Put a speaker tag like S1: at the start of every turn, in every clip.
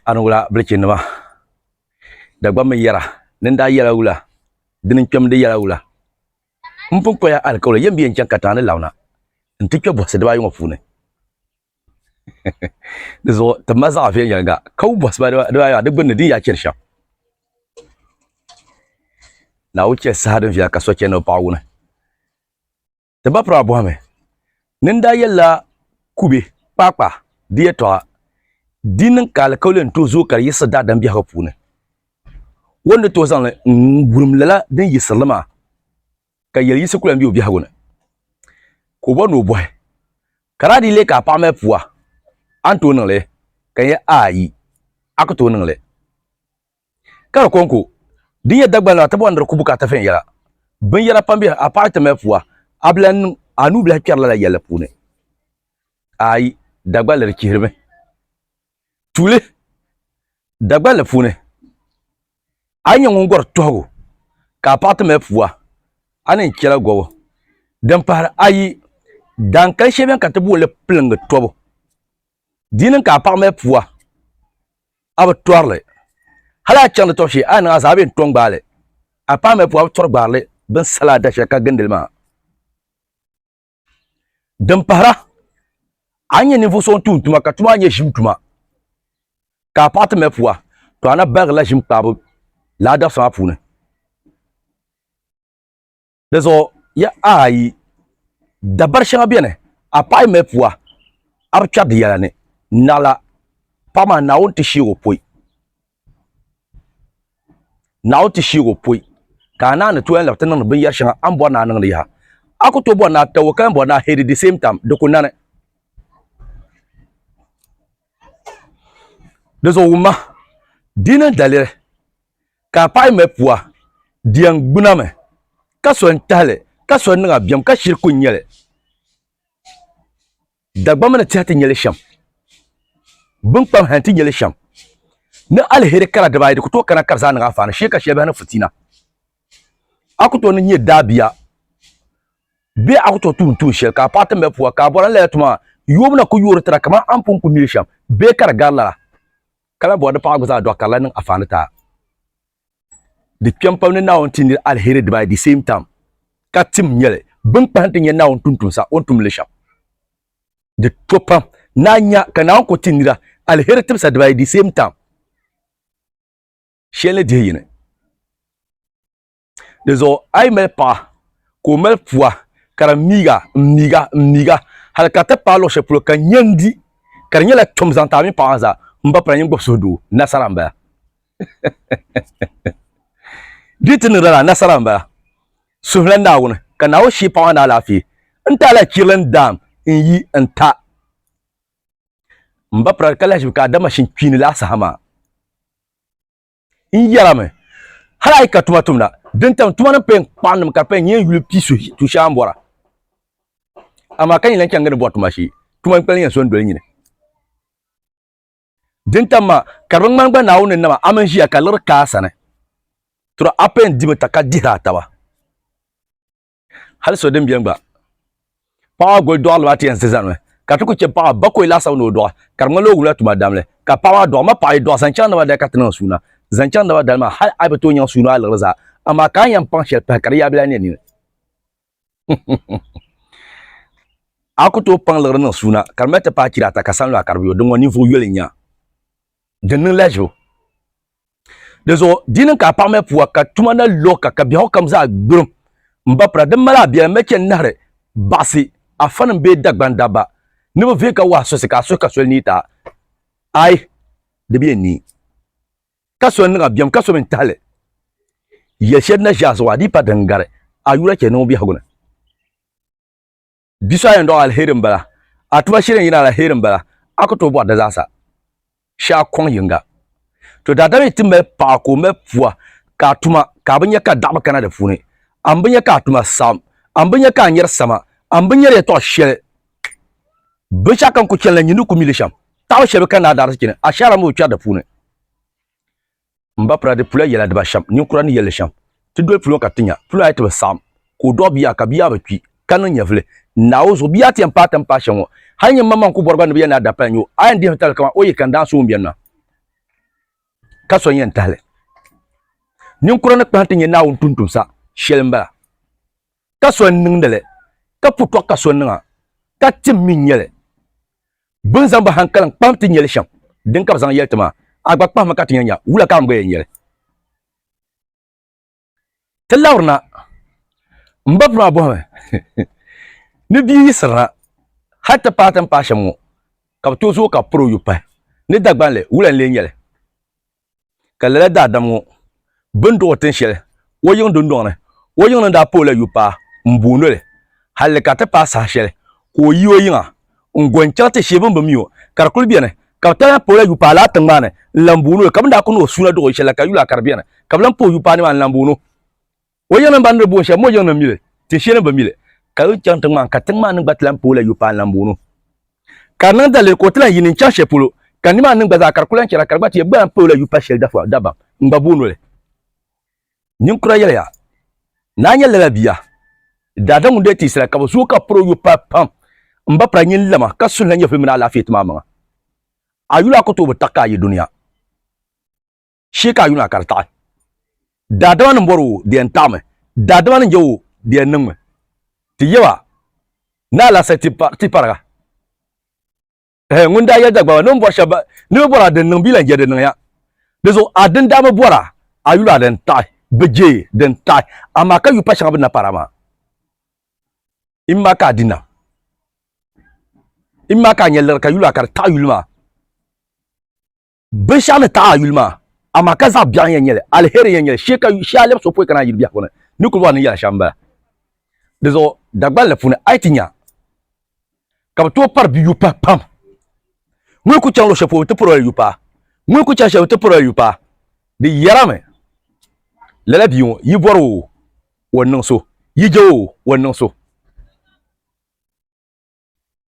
S1: Anwula bilichi nima Dagbaŋ mini yɛra ni n daa yɛla wula dini n kpɛmdi yɛla wula m pun kpaya alikawuli yɛn bɛ yɛn chaŋ katiŋa ni Lawna n ti kpɛ bɔhisi dibaayi ŋɔ puuni di zuɣu ti mali zaɣ viɛnyɛliŋga ka wum bɔhisi maa dibaayi maa di gbunni din yaa chɛri shɛm Naawuni chɛ saha din viɛla ka so chɛ ni o paɣ wuni Ti ba piri a bɔhimi ni n daa yɛlila kube kpaakpa di yɛtɔɣa di niŋ ka alikauli n tooi zooi ka di yiɣisi daadam biɛhigu puuni. O ni tooi zaŋli n-wurim lala din yiɣisiri li maa ka yɛli yiɣisi ku lan be o biɛhigu ni. Ka o bɔri ni o bɔhi, Ka daa dii leei ka a paɣa mali pua, a ni tooi niŋ li? Ka n yɛli, Aayi, a ku tooi niŋ li. Ka di kɔŋko din nyɛ Dagbani la ti bɔri ni di ku bukaata viɛnyɛla. Binyɛra pam beni, a paɣa ti mali pua, a bi lahi niŋ a nuu bilahi kpɛri lala yɛlli puuni. Aai, Dagbani di chihirimi. Tuuli Dagbani puuni, a ni nyɛ ŋun gɔri tɔhigu ka a paɣa ti mali pua, a ni chɛla gɔbu. Din pahiri ayi, daankali shɛli beni ka ti booni li piliŋgi tɔbu. Di ni ka a paɣa mali pua. a bi tɔrili hali a chaŋdi tɔbu shee a niŋ a zaɣ bee n-tɔŋ gbaali a paai mali puu a bi tɔri gbaarili bini sali a dashɛli ka gindili maa din pahira a ni nyɛ ninvuɣ so n-tuun tuma ka tuma maa nyɛ ʒim tuma ka a paɣa ti mali pua to a na baligirila ʒim kpaabu laadabisi maa puuni Di zuɣu ya ayi dabari shɛŋa beni a paɣi mali pua a bi kpɛri di yɛla ni naɣila paɣa maa Naawuni ti sheeg o poi Naawuni ti sheeg o poi ka a naani tooi yɛn labi ti niŋdi binyɛri shɛŋa a ni bɔri ni a niŋdi yaha a ku tooi bɔri ni a tabo ka yɛn bɔri ni a hɛdi di same time di ku nani di zuɣu wumma di yi niŋ daliri Ka a paɣi mɛ pua, di yɛn gbuna mi, ka so n tahili, ka so n niŋ a biɛm, ka shiri ku nyɛ li. Dagbaŋ mini tihi ti nyɛ li shɛm, binkpam hɛn ti nyɛ li shɛm. Ni aliheri kara dibaa ayi, di ku tooi kana ka di zaa niŋ a faani shee ka shɛli biɛhi ni futiina. A ku tooi ni nyɛ daabia bee a ku tooi tuun tuun shɛli ka a paɣi ti mɛ pua, ka a bɔra n lala tuma maa, yoobu na ku yoori ti na kaman a ni pun ku mi li shɛm bee ka di gari lala. Ka lahi bɔri di paɣa gba zaa dɔɣi karili niŋ afaani taa. Di kpɛm pam ni Naawuni ti nir alheri dibaayi the same time, ka tim nyɛli bini kpahi nti nya Naawuni tuntumsa o ni tumdi li shɛm. Di to pam ni a nya ka Naawuni ku ti nira alheri tibisa dibaayi the same time, shɛli ni dihi yini. di zuɣu a yi mali paɣa ka o mali pua ka di miiga n miiga n miiga hali ka ti paai luɣu shɛli polo ka nya n di ka di nyɛla tom zaŋ ti a mini paɣa maa zaa n ba pala nyin gbubi suhu doo nasara n bala di ti niŋda la nasara n bala suhula naawuni ka naawuni shii paɣa maa ni alaafee n ti alahi chirili n daam n yi n ta n ba pala ka lahi ʒibi ka adama shinkpiini lahi saha maa N yɛlimi, hal a yi ka tuma tumda, din tam tuma ni pɛn kpaɣinnim ka di pɛn nyɛ n-yuli pi suhi tu shɛŋa m-bɔra. Amaa ka nyin lan chaŋ gindi bɔri tuma shee, tuma n-kpali ni yɛn so n-doli nyini. Din tam maa, ka di bi ŋmani gba Naawuni ni nama a mini ʒiya ka liɣiri kaai a sani, tɔra a pɛn dimi ta ka dihir a taba. hali so din biɛni gba paɣa goli dɔɣi liba ti yɛn zi zanimi ka ti ku chɛ paɣa bakoi laasabu ni o dɔɣi ka di ŋmanila o wumla tuma damli ka paɣa maa dɔɣi ma paɣa yi dɔɣi zaŋ chaŋ naba dali ka ti niŋ suuna zaŋ chaŋ naba dali maa hali a yi bi tooi nyaŋ suuna a liɣiri zaa amaa ka a ni yɛn paŋ shɛli pahi ka di yaabili a nɛ nini a ku tooi paŋ liɣiri niŋ suuna ka di mali ti paai chira ata ka sanlu a ka di bi yo din ŋɔ ninvuɣu yoli n-nya din niŋ lahiʒibu Di zuɣu di niŋ ka a paɣa mali pua ka tuma na lɔɣi ka ka biɛhigu kam zaa gbirim m-ba pira. Di mali a biɛla mali chani nahiri baɣisi a fanim bee Dagban dabba ni bɛ vee ka wahi sosi ka a suhi ka soli neei ti a. Aai! Di bi yɛn neei. Ka soli niŋ a biɛm ka so mi n-tahi li. Yɛli shɛli di na ʒe a zuɣu a dii pa di n-gari a yura chɛ ni ŋun biɛhigu ni. Bia so a yɛn dɔɣi alheri m-bala, a tuma shili n-yina alheri m-bala, a ku tooi bɔri di zaasa shee a kɔŋ yiŋga. To daadam yi ti mali paɣa ka o mali pua ka a tuma ka a bi nya ka a daɣu bi kana di puuni, a ni bi nya ka a tuma saɣim, a ni bi nya ka a nyari sama, a ni bi nyari yɛtɔɣ shɛli. Binshɛɣu ka n ku chani la, nyin ni ku mi li shɛm. Taɣibu shɛli bɛ ka ni a daa ti chani, ashaara mi bi kpɛri di puuni. M ba pula di pula yɛla diba shɛm ninkura ni yɛli shɛm ti doli pulɔ ka ti nya pulɔ ayi ti bi saɣim ka o dɔɣi bia ka bia bi kpi ka niŋ nyɛvili n-naai o zuɣu bia ti yɛn paai tin paai shɛm ŋɔ hali nyin maŋmaŋ ku bɔri ba ni bɛ yɛn naa dapaya nyo a yɛn dihimi tabili kaman o yi kani daansi ŋun beni maa ka so n-yɛn tahili ninkura ni kpahim ti nyɛ Naawuni tuntumsa shɛli m-bala ka so n-niŋdi li ka putɔɣu ka so niŋ a ka tim mi n-nyɛ li Bɛ ni zaŋ bɛ haŋkalim kpahim ti nyɛli shɛm, dini ka bɛ zaŋ yɛli ti maa, A gba kpahim ma ka ti nya nya, wula ka a ni bɔi nyɛli? Ti labirina, m ba Burmaa bɔhimi ni bia yiɣisirina hal ti paai ti ni paai shɛm ŋɔ, ka bɛ tooi zooi ka bɛ piri o yubu pahi ni Dagbanli, wula n-lee nyɛli? Ka lala daadam ŋɔ bi ni duɣ o tin shɛli o yiŋ dundɔŋ ni, o yiŋ ni daa pa o la yupaa m-booni o li, halli ka ti paai saha shɛli ka o yi o yiŋa n-go n-chaŋ ti shee bɛ ni bi mi o, ka di kul beni ka bɛ daa pa o la yupaa lala tiŋgbani ni n-lan booni o li. Ka bɛ ni daa kuni o suuna duɣ o shɛli la ka yuli a ka di beni ka bɛ lan pa o yupaa nimaani n-lan booni o. O yiŋnim ban ni boon shɛb mo yiŋnim mili ti shɛli bi mili, ka yi chaŋ tiŋ maa ka tiŋ maa niŋ gba ti lan pooi la yopaan lan boonu. Ka di niŋ daliri ka o ti lan yi ni n-chaŋ shɛli polo, ka nimaani niŋ gba zaa ka di ku lan chɛra ka di gba ti yɛn gba lan pooi la yupa shɛli dafua dabam n-gba booni li. Ninkura yɛliya, Naa nyɛla lala bia. Daadam ŋun daa teesira ka bi zooi ka piri o yopaa pam m-ba pira nyin lama ka suhila nyɛvili mini alaafee ti ma amaŋa. A yuli a ku tooi bi taɣi ka a yi dunia. shee ka a yuna ka di taɣi. Daadama ni bɔri o di yɛn taɣimi, daadama ni je o di yɛn niŋmi. Ti yɛm a ni alahisahi ti pariga. Ɛhɛ, ŋun daa yɛli Dagbamba ni o ni bɔri shɛba ni bɛ bɔri a din niŋ bee lan je di niŋya. Di zuɣu a din daa bi bɔri a, a yuli a din taɣi, bi je din taɣi, amaa ka yu pa shɛŋa bɛ ni na pari a maa. Im maa ka a di nam. Im maa ka a nya liri ka yuli a ka di taɣi yuli maa. Binshɛɣu ni taɣi a yuli maa, amaa ka zaɣ biɛɣu n-yɛn nyɛli, aliheri n-yɛn nyɛli shee ka a lɛbi so pɔi kana a yuli biɛhigu ni, ni kuli bɔri ni yɛla shɛm m-bala. Di zuɣu Dagbani la puuni a yi ti nya ka bɛ tooi pari bɛ yu pahi pam. Ŋun yi kuli chaŋ luɣ shɛli polo bɛ ti pari o la yu pahi, ŋun yi kuli chani shɛli bɛ ti pari o la yu pahi. Di yɛrimi, Lala bia ŋɔ, yi bɔri o o ni niŋ so, yi je o o ni niŋ so.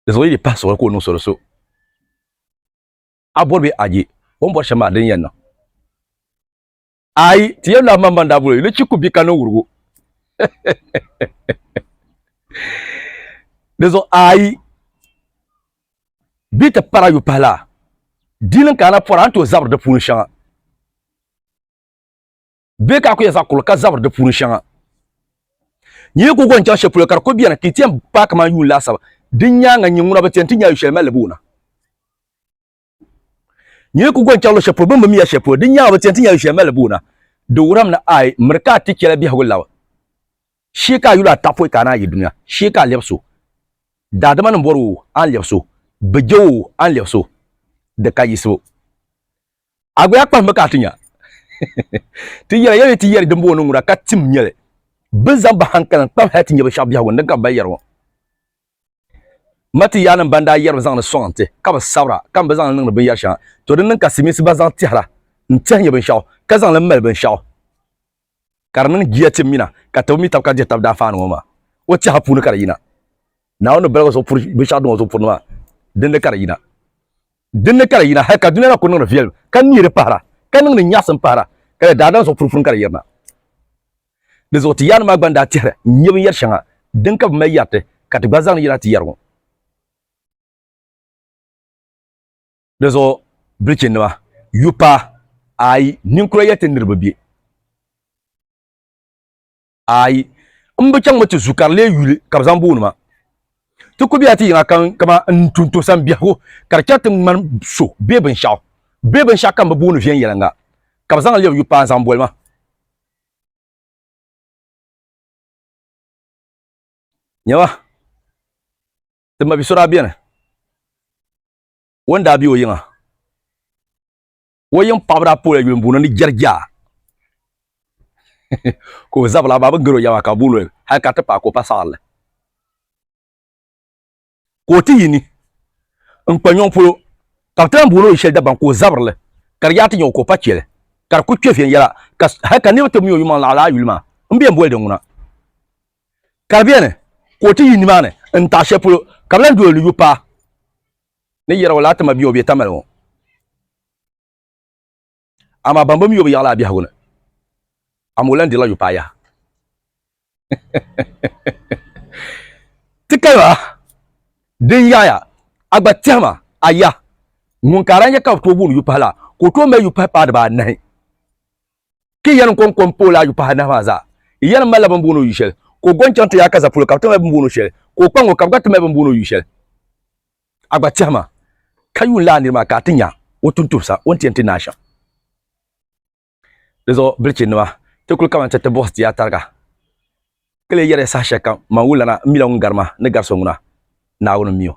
S1: Di zuɣu yi di pahi suɣili ka o niŋ so di so. a bɔri bɛ aje o ni bɔri shɛm maa din yɛn niŋ ayi ti yɛn lahi man ban daa bolo yuli chiku bi ka niŋ wurugu di zuɣu ayi bi ti para yu pahi laa diini ka ana pɔra a ni tooi zabiri di puuni shɛŋa bɛ ka a ku yɛn zaɣ kul ka zabiri di puuni shɛŋa. Nyɛ yi ku gɔni chaŋ shɛli polo ka di ku bɛni ka yi ti yɛn paai kamani yuun laasabu, di nyaaŋa nyɛ ŋuna bi ti yɛn ti nya yu shɛli mali li bɛ wuna. Nyɛ yi ku gɔni chaŋ luɣ shɛli polo bɛ ni bi mi ya shɛli polo, di nyaaŋa bi ti yɛn ti nya yu shɛli mali li bɛ wuna. Di wuhirimi ni a yi miri ka a ti chɛla biɛhigu labi shee ka a yuli ata pɔi ka a naai yi dunia shee ka a lɛbis o. Daadama ni bɔri o a ni lɛbis o, bɛ je o a ni lɛbis o, di ka yiɣisibu. A gba ya kpahimbu ka a ti nya. Ti yɛla, yɛli ti yɛri dimbooni ŋuna ka tim nyɛli. Bɛ zaŋ bɛ hankali n-kpabi hal ti nya binshɛɣu biɛhigu ni din ka bɛ mali yɛri ŋɔ. Matiyanim ban daa yɛrimi zaŋdi sɔŋ n-ti ka bɛ sabira ka mi bɛ zaŋ li niŋdi binyɛr shɛŋa, to di niŋ ka Silimiinsi gba zaŋ tɛhira n-tɛhi nya binshɛɣu ka zaŋ li mali binshɛɣu. ka di niŋ jia tim mina ka tib mi tab ka dihi tab daanfaani ŋɔ maa. O tɛha puuni ka di yina. Naawuni ni baligu zuɣu puri binshɛɣu din o zuɣu puri ni maa, dinni ka di yina. Dinni ka di yina hal ka dunia na kul niŋdi viɛlim, ka neeri pahira, ka niŋdi nyaɣisim pahira, ka di daadam zuɣu puri puuni ka di yirina. Di zuɣu ti yaanima maa gba ni daa tɛhiri n nya binyɛr shɛŋa din ka bi mali yɛri ti, ka ti gba zaŋ li yina ti yɛri ŋɔ. Di zuɣu bilichinima, yu paai, ayi, ninkura ya ti niriba be, ayi, m bi chaŋmi ti zu ka di lee yuli ka bɛ zaŋ booni ma. Ti ku be a ti yiŋa kam kaman n ni tu n tɔhisa m biɛhigu ka di chɛri ti ŋmani so bee binshɛɣu bee binshɛɣu ka m bi booni viɛnyɛliŋga ka bɛ zaŋ lɛbi yu paai zaŋ boli ma. Nyama, ti mabi so daa beni. o ni daa be o yiŋa o yiŋ paɣaba daa poola yuli mbuno ni jɛrija ka o zabila maa bi gari o yɛma ka bulo hali ka ti paai ka o pa saɣarili ka o ti yi ni n kpa nyɔŋ polo ka bi ti lahi booni o shɛli dabam ka o zabirili ka di yaa ti nyɛ o ka o pa chɛli ka di ku kpɛ viɛnyɛla hali ka niraba ti mi o yumaŋ laɣa laa yuli maa n bɛ n boli di ŋuna ka di beni ka o ti yi nimaani n-taɣi shɛli polo, ka bɛ lan doli ni yu paai ni yɛra o laa ti ma bia o bɛ tamali ŋɔ. Amaa ban bi mi o bi yaɣila a biɛhigu ni, amaa o lan dirila yu paai yaha. Ti kali ba din yaɣiya, a gba tɛhi ma a yah ŋun ka a daa nya ka bɛ tooi booni yu pahi la, ka o tooi mali yu pahi paai dibaa anahi. ka i yɛlim kɔŋ kom pooli ayu pahi anahi maa zaa. I yɛlim malila bɛ ni booni o yu shɛli, ka o gɔn chaŋ ti Yaakaza polo ka bɛ ti mali bɛ ni booni o shɛli, ka o kpaŋ ŋɔ ka bɛ gba ti mali bɛ ni booni o yu shɛli. A gba tɛhi ma, ka yuun lahi niri maa ka a ti nya o tuuntumsa o ni ti yɛn ti naai shɛm. Di zuɣu bilichinnima, ti kul kaman ti ti buɣisi ti ya tariga, ka lee yɛri ya saha shɛlikam, Man wulana, m mila ŋun gari ma ni gari so ŋuna, Naawuni m-mi o.